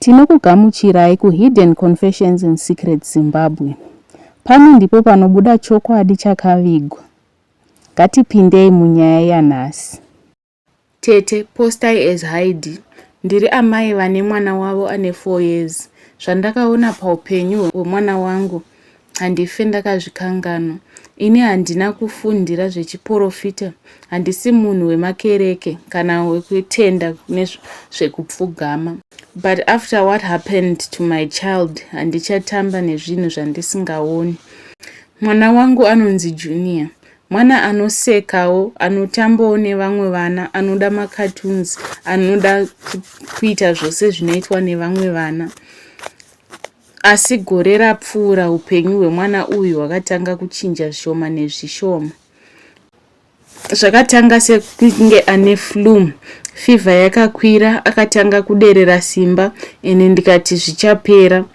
Tinokugamuchirai ku Hidden Confessions in Secret Zimbabwe. Pano ndipo panobuda chokwadi chakavigwa. Ngatipindei munyaya yanhasi. Tete, postai as Haidhi. Ndiri amai vane mwana wavo ane four years. Zvandakaona paupenyu hwemwana wangu Handife ndakazvikanganwa. Ini handina kufundira zvechiporofita, handisi munhu wemakereke kana wekutenda kune zvekupfugama. But after what happened to my child, handichatamba nezvinhu zvandisingaoni. Mwana wangu anonzi Junior. Mwana anosekawo, anotambawo nevamwe vana, anoda macartoons, anoda kuita zvose zvinoitwa nevamwe vana. Asi gore rapfuura upenyu hwemwana uyu hwakatanga kuchinja zvishoma nezvishoma. Zvakatanga sekunge ane flu, fivha yakakwira, akatanga kuderera simba ende ndikati zvichapera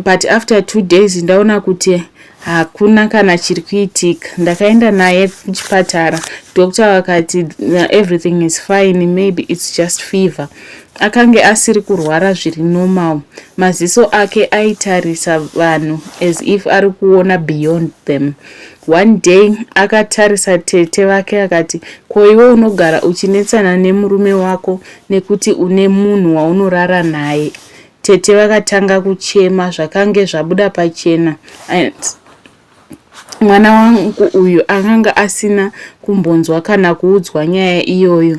but after two days ndaona kuti Hakuna kana chiri kuitika. Ndakaenda naye kuchipatara. Doctor vakati everything is fine, maybe it's just fever. Akange asiri kurwara zviri normal. Maziso ake aitarisa vanhu as if ari kuona beyond them. One day akatarisa tete vake akati, ko iwe unogara uchinetsana nemurume wako nekuti une munhu waunorara naye. Tete vakatanga kuchema zvakange zvabuda pachena and mwana wangu uyu akanga asina kumbonzwa kana kuudzwa nyaya iyoyo.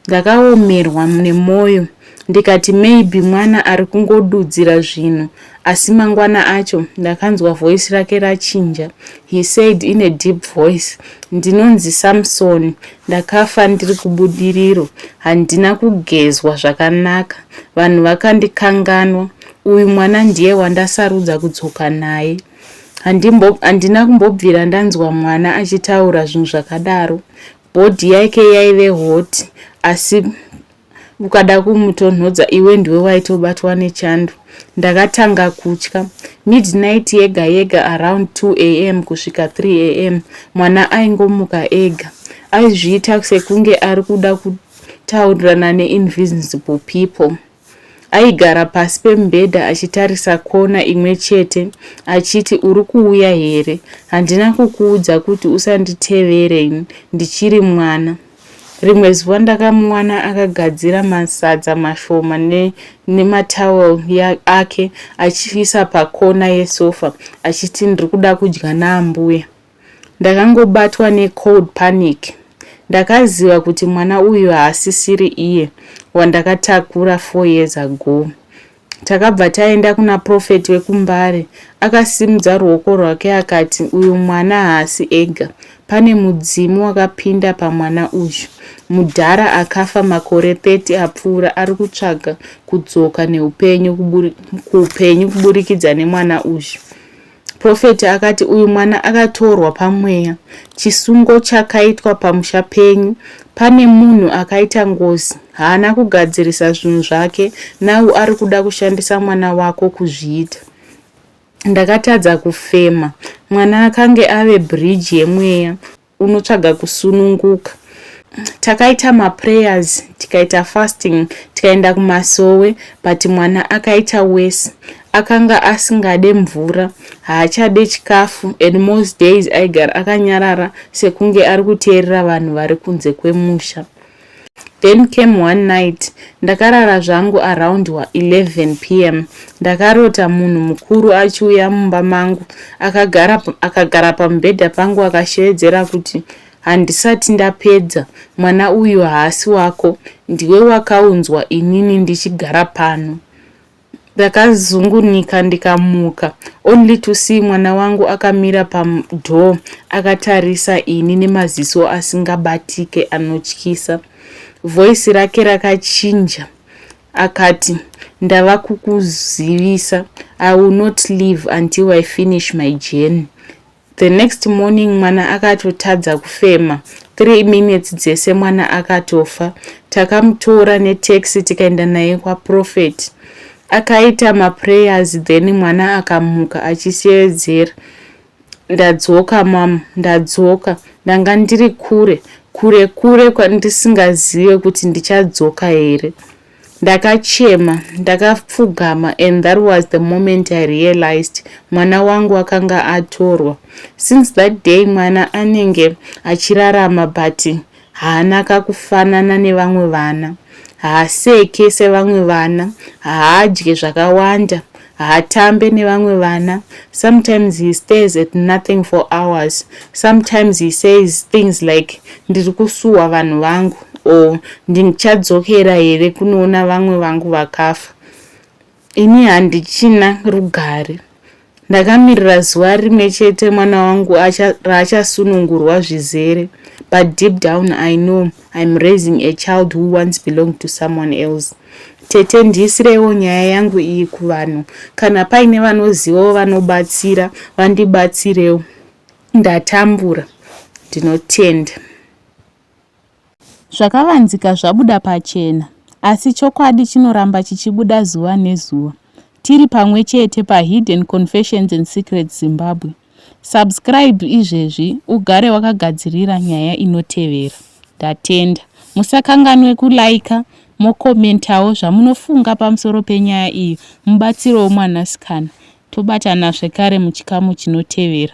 Ndakaomerwa nemwoyo ndikati maybe mwana ari kungodudzira zvinhu asi mangwana acho ndakanzwa voice rake rachinja he said in a deep voice ndinonzi samsoni Ndakafa ndiri kubudiriro, handina kugezwa zvakanaka, vanhu vakandikanganwa, uyu mwana ndiye wandasarudza kudzoka naye. Handimbo, handina kumbobvira ndanzwa mwana achitaura zvinhu zvakadaro. Body yake yaive hot, asi ukada kumutonhodza iwe ndiwe waitobatwa nechando ndakatanga kutya midnight yega yega around 2 am kusvika 3 am mwana aingomuka ega aizviita sekunge ari kuda kutaurirana neinvisible people aigara pasi pemubhedha achitarisa kona imwe chete achiti uri kuuya here handina kukuudza kuti usanditevere ndichiri mwana Rimwe zuva ndakamuwana akagadzira masadza mashoma nematowel ake achiisa pakona yesofa achiti ndiri kuda kudya naambuya. Ndakangobatwa necold panic. Ndakaziva kuti mwana uyu haasisiri iye wandakatakura four years ago. Takabva taenda kuna prophet wekuMbare. Akasimudza ruoko rwake akati, uyu mwana haasi ega. Pane mudzimu wakapinda pamwana uyu. Mudhara akafa makore 30 apfuura ari kutsvaga kudzoka neupenyu kuupenyu kuburikidza nemwana uyu. Prophet akati uyu mwana akatorwa pamweya. Chisungo chakaitwa pamusha penyu. Pane munhu akaita ngozi. Haana kugadzirisa zvinhu zvake. Now ari kuda kushandisa mwana wako kuzviita. Ndakatadza kufema. Mwana akange ave bridge yemweya. unotsvaga kusununguka takaita maprayers tikaita fasting tikaenda kumasowe but mwana akaita wese akanga asingade mvura haachade chikafu and most days aigara akanyarara sekunge ari kuteerera vanhu vari kunze kwemusha Then came one night ndakarara zvangu around wa 11 pm ndakarota munhu mukuru achiuya mumba mangu akagara akagara pamubhedha pangu akashevedzera kuti handisati ndapedza mwana uyu haasi wako ndiwe wakaunzwa inini ndichigara pano Ndakazungunuka ndikamuka only to see mwana wangu akamira padoor akatarisa ini nemaziso asingabatike anotyisa. Voice rake rakachinja akati, ndava kukuzivisa I will not leave until I finish my journey. The next morning mwana akatotadza kufema. Three minutes dzese mwana akatofa. Takamutora netaxi tikaenda naye kwaProphet. Akaita maprayers then mwana akamuka achisevedzera. Ndadzoka mom, ndadzoka. Ndanga ndiri kure, kure kure kwandisingazive kuti ndichadzoka here. Ndakachema ndakapfugama and that was the moment I realized mwana wangu akanga atorwa. Since that day mwana anenge achirarama but haana kakufanana nevamwe vana. Haaseke sevamwe vana, haadye zvakawanda haatambe nevamwe vana sometimes he stays at nothing for hours sometimes he says things like ndiri kusuwa vanhu vangu or ndichadzokera here kunoona vamwe vangu vakafa ini handichina rugare ndakamirira zuva rimwe chete mwana wangu raachasunungurwa zvizere but deep down i know I'm raising a child who once belonged to someone else. Tete ndiisireiwo nyaya yangu iyi kuvanhu kana paine vanozivawo vanobatsira vandibatsirewo ndatambura ndinotenda. Zvakavanzika zvabuda pachena asi chokwadi chinoramba chichibuda zuva nezuva. Tiri pamwe chete paHidden Confessions and Secrets Zimbabwe. Subscribe izvezvi ugare wakagadzirira nyaya inotevera. Ndatenda. Musakanganwe kulaika mokomentawo zvamunofunga pamusoro penyaya iyi mubatsirowo mwanasikana. Tobatana zvekare muchikamu chinotevera.